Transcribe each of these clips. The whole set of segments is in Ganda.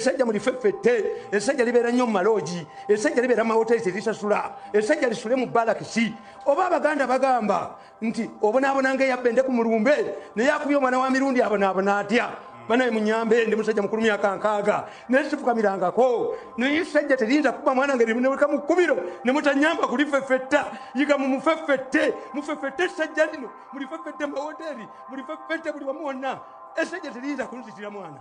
esajja mulifeffette esajja libeera nnyo mumaloogi esajja libeera mumawoteeri terisasula esajja lisule mu balakisi oba abaganda bagamba nti obonaabonanga eyabbende ku mulumbe naye akubye omwana wa mirundi abonaabona atya banaye munyambe ndi musajja mukulu myaka nkaaga naye sifukamirangako naye esajja terinza kuba mwana nga rineweka mu kkubiro ne mutanyamba kulifeffetta yiga mu mufeffette mufeffette esajja lino mulifeffette mumawoteeri mulifeffette buli wamu wonna esajja terinza kunzitira mwana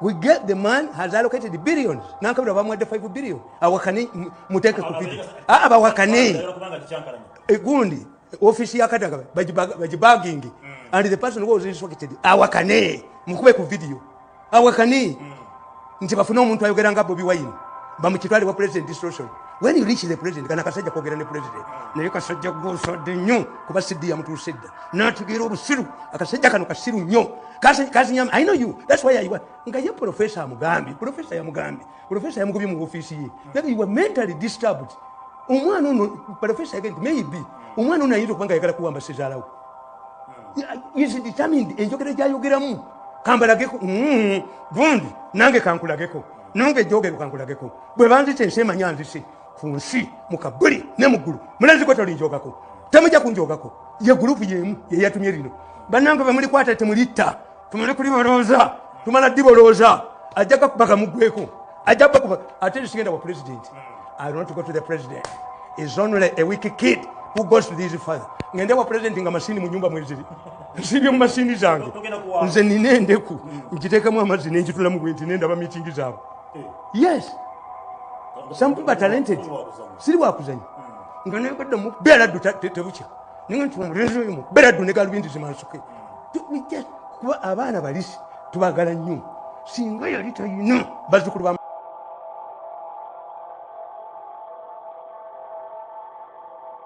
we get the man has allocated billions nankabira bamwadde 5 billion awakane muteeke ku video aa ah, bawakane eh, gundi ofisi ya kadaga bagibagingi mm. and the person was instructed awakane mukube ku video awakane mm. nti bafune omuntu ayogera nga bobi wine bamukitwale wa president distruction when you reach the president kana kasajja kwogera ne president naye kasajja gosodde nnyo kuba siddi yamutuusa edda n'ategeera obusiru akasajja kano kasiru nnyo Kasi kasi nyama I know you. That's why I was. Nga ye professor Mugambi, professor ya Mugambi. Professor ya Mugambi mu office ye. That you were mentally disturbed. Umwana uno professor again maybe. Umwana uno ayito kwanga yakala kuwamba sizala u. Is determined enjokere ja yogera mu. Kambala geko. Mm. Gundi nange kankula geko. Nange joge kankula geko. Bwe banzi tense manyanzi si. ku nsi mu kabuli ne mu ggulu mulaziko tolinjogako temujja kunjogako ye gulupu yemu yeyatumye lino bannange bemulikwata temulitta tumale kulibolooza tumala dibolooza ajja gakubaga mugweko ajja bakuba ate tusigenda wa pulezidenti i want to go to the president is only a week kid who goes to this father ngende wa pulezidenti nga masini mu nyumba mweziri nsibye mu masini zange nze nina endeku nkiteekamu amazzi nenjitulamu bwenti nendaba mitingi zaabwe yes some people are talented siri wakuzanya nga naye kadda mu bera du tebukya ninga nti omulenzi oyo mu bera du ne galubindi zimansuke kuba abaana balisi tubagala nnyo singa yali tayina bazukulu ba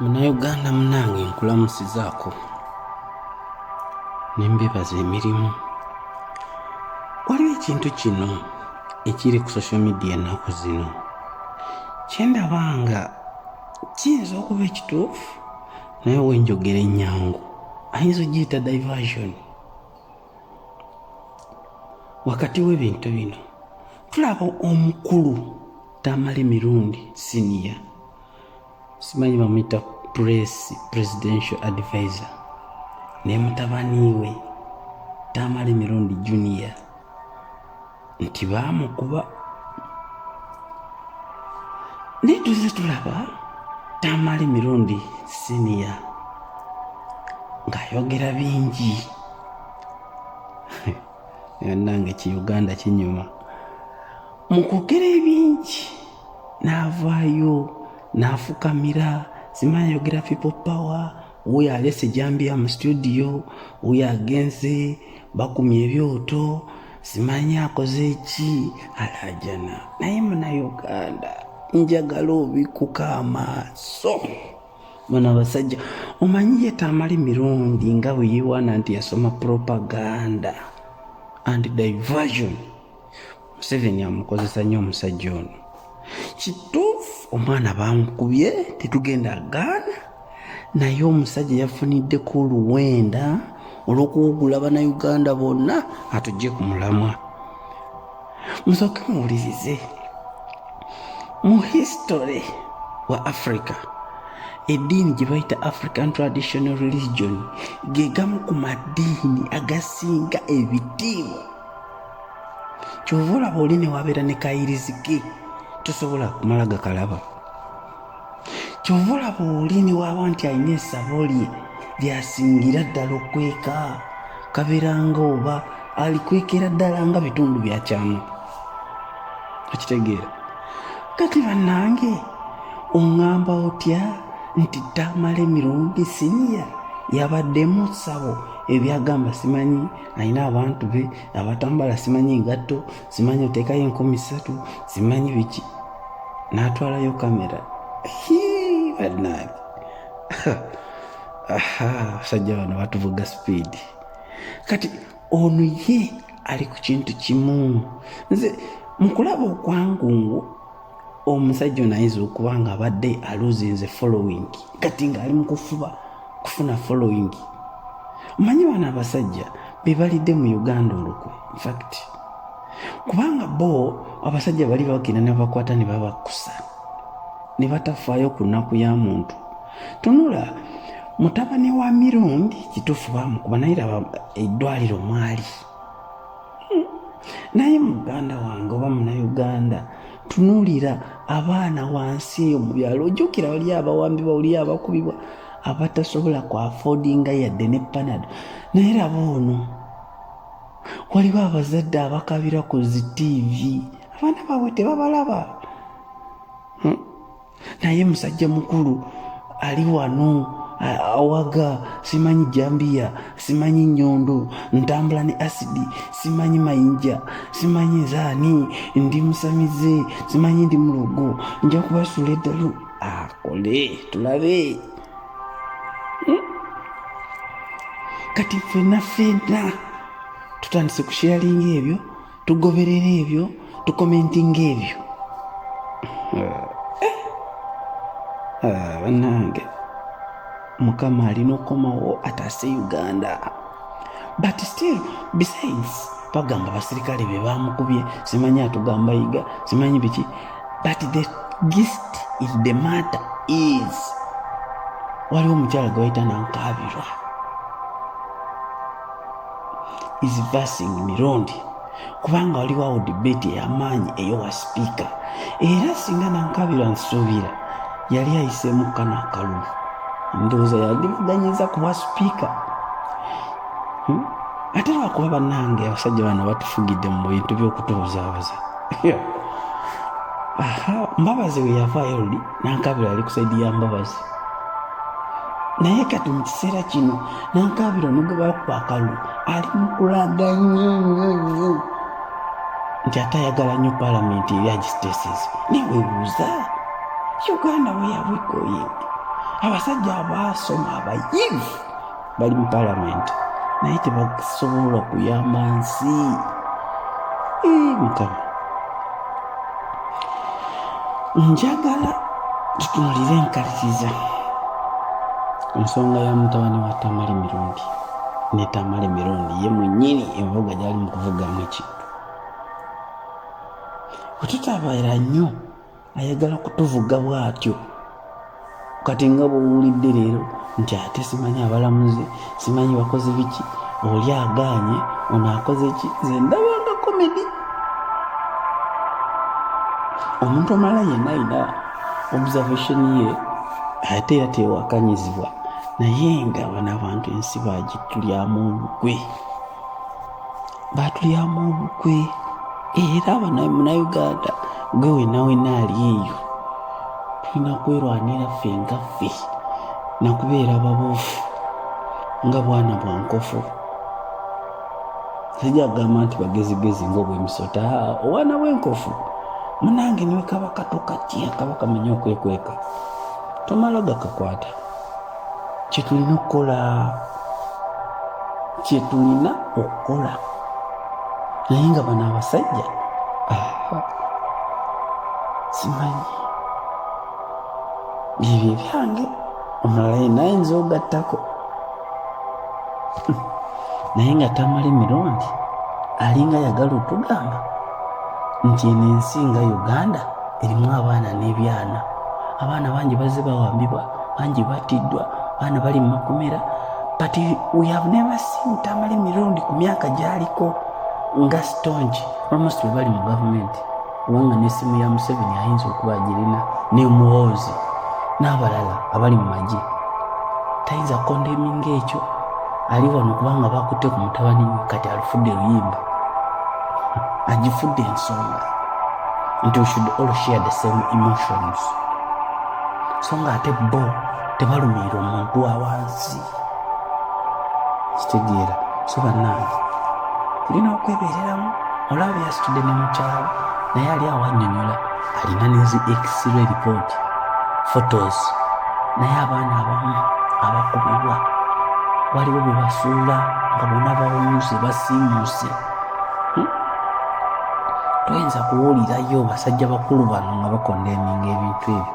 munayuganda munange nkulamusizaako nembebaza emirimu waliwo ekintu kino ekiri ku social media ennaku zino kyendaba nga kiyinza okuba ekituufu naye wenjogera ennyangu ayinza ogiyita diversion wakati w'ebintu bino tulaba omukulu tamale mirundi siniya simanyi bamuyita press presidential advisor naye mutabaniiwe tamale mirundi junior nti baamukuba naye tuze tulaba tamale mirundi siniya ng'ayogera bingi nange ki uganda kinyuma mu kwogera ebingi n'avaayo n'afukamira simanyayogera people power wuyo alese jambiya mu situdiyo wuyo agenze bakumya ebyoto simanyi akoze eki alajana naye muna uganda njagala obikuka amaaso muna basajja omanyi yetamali mirundi nga bweyewaana nti yasoma propaganda and diversion museveni amukozesa nnyo omusajja ono kituufu omwana bamukubye tetugenda gaana naye omusajja yafuniddeko oluwenda olw'okuwugula banauganda bonna atujje ku mulamwa musooke muwulirize mu history wa africa eddiini gye bayita african traditional religion ge gamu ku maddiini agasinga ebitiibwa kyova olaba oli newabeera ne kayirizige tosobola kumala gakalaba kyova olaba oli newaba nti alina esabo lye lyasingira ddala okweka kabeeranga oba alikwekera ddala nga bitundu byakyamu okitegeera kati bannange oŋŋamba otya nti tamala emirundi siniya yabaddemu ssabo ebyagamba simanyi alina abantu be abatambala simanyi engatto simanyi oteekayo enkumi ssatu simanyi biki n'atwalayo kamera badnag abasajja bano batuvuga sipiidi kati ono ye ali ku kintu kimu nze mukulaba okwangungu omusajja ono ayinza okuba nga abadde aluzinze following kati ng'ali mu kufuba kufuna following omanyi bano abasajja be balidde mu uganda olukwe infact kubanga bo abasajja bali bagenda nebakwata ne babakusa ne batafaayo ku nnaku ya muntu tunula mutabani wa mirundi kituufu bamukuba naye laba eddwaliro mwali hmm. naye muganda wange oba munauganda tunuulira abaana wansi eyo mu byalo ojjukira wali abawambibwa wali abakubibwa abatasobola ku afodinga yadde ne panado naye laba ono waliwo abazadde abakabira ku zi tiivi abaana baabwe tebabalaba hmm? naye musajja mukulu ali wano awaga simanyi jambiya simanyi nyondo ntambula ne asidi simanyi mayinja simanyi nzaani ndi musamize simanyi ndi mulogo nja kubasuula eddalu akole tulabe hmm? kati ffenna ffenna tutandise kusheyalinga ebyo tugoberera ebyo tukomentinga ebyo eh, eh, banange mukama alina okukomawo ataase uganda but still besides bagamba basirikale be bamukubye simanyi atugamba yiga simanyi biki but the gist is the matter is waliwo omukyala gwe bayita nankabirwa is versing mirundi kubanga waliwo awo debate eyamaanyi eyowa sipiika era singa nankabirwa nsuubira yali ayiseemu kano akalulu ndowooza yalivuganyiza kuba sipiika hmm? ate lwakuba banange abasajja bano batufugidde mu bintu byokutubuzaabuza mbabazi weyavaayo luli nankabira ali kusaidi ya mbabazi naye kati mu kiseera kino nankabira onogebakukwakalu ali mukulaga nyo nyo nyo nti ate ayagala nnyo palamenti eri agisiteses newebuuza uganda weyawegoyinti abasajja abaasoma abayivu bali mu palamenti naye tebasobola kuyamba nsi mukama njagala tutunulire enkaliriza ensonga ya mutabani wa tamale mirundi ne tamale mirundi ye mwenyini envuga gyali mu kuvugamu ekintu bwe tutabeera nnyo ayagala kutuvuga bwatyo kati nga bwowulidde leero nti ate simanyi abalamuzi simanyi bakozi biki oli agaanye ono akoze ki ze ndabanga komedi omuntu omala yenna ayina observation ye ate era tewakanyizibwa naye nga bano abantu ensi bagitulyamu olukwe baatulyamu obukwe era munauganda gwe wenawena ali eyo tulina kwerwanira ffe nga ffe nakubeera babuufu nga bwana bwa nkofu sijja kugamba nti bagezigezi ngaobwemisota obwana bwenkofu munange niwe kabaka tokatya kabaka manya okwekweka tomala gakakwata kyetulina okukola kyetulina okukola naye nga bano abasajja simanyi byebyo ebyange omulala yena ayinza ogattako naye nga tamala emirundi alinga yagala otugamba nti eno ensi nga uganda erimu abaana n'ebyana abaana bangi bazze bawambibwa bangi battiddwa baana bali mu makomera but we have never seen tamale mirundi ku myaka gyaliko nga stonge almost bwe bali mu gavumenti kubanga n'essimu ya museveni ayinza okuba agirina ne muwoozi n'abalala abali mu magye tayinza kondeminga ekyo ali wano kubanga bakutte ku mutabani we kati alufudde luyimba agifudde ensonga nti we should all share the same emotions so nga ate bo tebalumiira omuntu awansi kitegeera so bannange tulina okwebeereramu olaba byasitudde ne mukyalo naye ali awo annyonyola alina nezi x-ray report photos naye abaana abamu abakubibwa waliwo bye basuula nga bona bawunze basiimuuse hmm? toyinza kuwulirayo basajja bakulu bano nga bakonda eminga ebintu ebyo